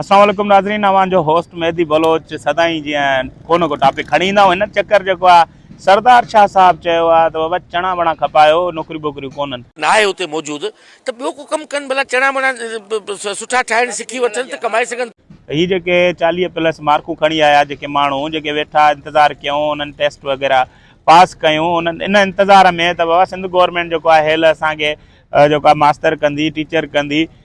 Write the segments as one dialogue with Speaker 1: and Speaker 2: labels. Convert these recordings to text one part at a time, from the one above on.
Speaker 1: السلام عليڪم ناظرين اوهان جو هوسٽ مهدي بلوچ سدائين جيئن ڪو نه ڪو ٽاپڪ کڻي ايندا آهيون هن چڪر جيڪو آهي سردار شاهه صاحب چيو آهي ته بابا چڻا وڻا کپايو نوڪريون بوڪريون ڪونهن. ناهي هتي موجود
Speaker 2: ته ٻيو ڪو ڪم ڪن ڀلا چڻا وڻا سٺا ٺاهڻ سکي وٺن ته ڪمائي سگهن. هي جيڪي
Speaker 1: چاليهه پلس مارڪون کڻي آيا جيڪي ماڻهو جيڪي ويٺا انتظار ڪيون انهن ٽيسٽ وغيره پاس ڪيون انهن ان انتظار ۾ ته بابا سنڌ گورنمينٽ جيڪو آهي هيل اسان کي جيڪو آهي ماستر ڪندي ٽيچر ڪندي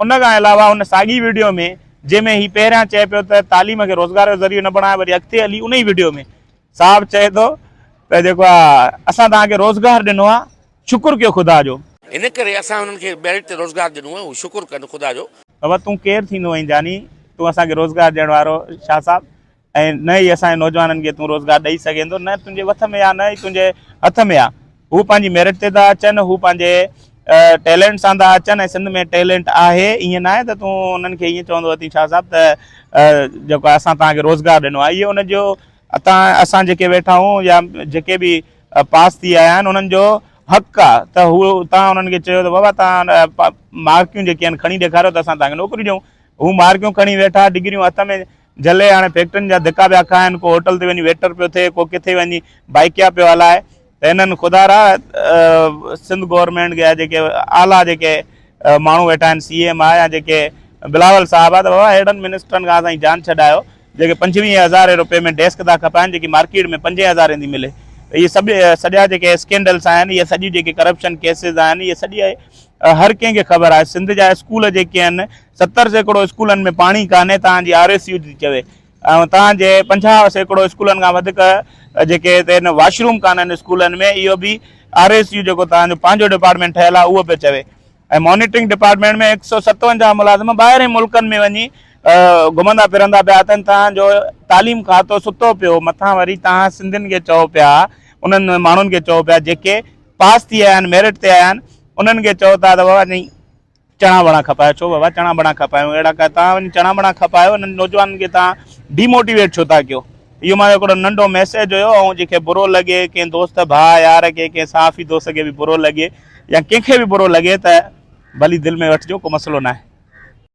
Speaker 1: ان کان علاوه ان ساڳي وڊيو ۾ جنهن ۾ هي پهريان چئي پيو ته تعليم کي روزگار جو ذريعو نه بڻايو وري اڳتي هلي انهي وڊيو ۾ صاحب چئي ٿو ته جيڪو آ اسان توهان کي روزگار ڏنو آ شڪر ڪيو خدا جو. ان ڪري اسان
Speaker 2: انهن کي ميرٽ تي روزگار ڏنو آ هو شڪر ڪن خدا جو. بابا تون ڪير ٿيندو
Speaker 1: آهين جاني تون اسان کي روزگار ڏيڻ وارو شاهه صاحب ۽ نه ئي اسان جي نوجوانن کي تون روزگار ڏئي سگهين ٿو نه تنهنجي وٿ ۾ آ نه ئي تنهنجي هٿ ۾ آ هو پنهنجي ميرٽ تي ٿا اچن هو پنهنجي ٽيلنٽ سان ٿا اچن ۽ سنڌ ۾ ٽيلنٽ آهي ائين نه آهي ته تون انهن کي ائين چوندو اٿين شاهه صاحب ته جيڪو اسان توهان کي روزگار ڏنو آهي اهو ان جو اتان اسان جيڪي ويٺا آهيون يا جيڪي به پاس ٿي آيا آهن انهن جو حق آ ته هو تان انهن کي چيو ته بابا تان مارڪيون جيڪي آهن کڻي ڏيکاريو ته اسان تان کي نوڪري ڏيون هو مارڪيون کڻي ويٺا ڊگريون هٿ ۾ جهلي هاڻي فيڪٽرين جا ڌڪا پيا کائن، ڪو هوٽل تي وڃي ويٽر پيو ٿئي، ڪو ڪٿي وڃي بائيڪيا پيو هلائي ته هنن خدا را سنڌ گورنمينٽ جا جيڪي اعليٰ جيڪي ماڻهو ويٺا آهن سي ايم آء يا جيڪي بلاول صاحب آ ته بابا ههڙن منسٽرن کان اسان جي جان ڇڏايو جيڪي پنجويهين هزارين روپين ۾ ڊيسڪ ٿا کپائن جيڪي مارڪيٽ ۾ پنجين هزارين ٿي ملي ته اهي سڀ سڄا جيڪي اسڪينڊلس آهن اهي سڄي جيڪي ڪرپشن ڪيسز آهن اهي سڄي هر ڪنهن کي خبر آهي سنڌ جا اسڪول جيڪي آهن ستر سيڪڙو اسڪولن ۾ پاڻي ڪانهي توهان جي آر اي سيو ٿي چوي ۽ توهان جي پنجاهه سيڪڙو اسڪولن کان وڌيڪ جيڪي هتي واش روم ڪانهن اسڪولن ۾ اهو به آر اي سيو جيڪو توهان جو پنهنجو ڊپارٽمينٽ ٺهيل آهي اهو پيو چوي ۽ مانيٽرنگ ڊپارٽمينٽ ۾ هڪ سؤ ستونجاهه ملازم ٻاهرين ملڪن ۾ وڃي گهمندا پھرندا پيا اٿن توهان جو تعليم کاتو ستو پيو مٿان وري توهان سنڌين کي چئو پيا انهن ماڻهن کي چئو پيا جيڪي پاس ٿي آيا آهن ميرٽ تي آيا آهن انهن کي چئو ٿا ته بابا چڻا وڻا کپايو ڇو بابا چڻا بڻا کپايون اهڙا ڪا توهان وڃي چڻا بڻا کپايو انهن نوجوانن کي توهان ڊي موٽيويٽ ڇو ٿا ڪيو اهو مانجو هڪڙو ننڍو ميسيج هيو ۽ جنهن کي برو لڳي ڪنهن دوست ڀاء يار کي ڪنهن صحافي دوست کي به برو لڳي يا ڪنهن کي به برو لڳي ته ڀلي دل ۾ وٺجو ڪو مسئلو ناهي.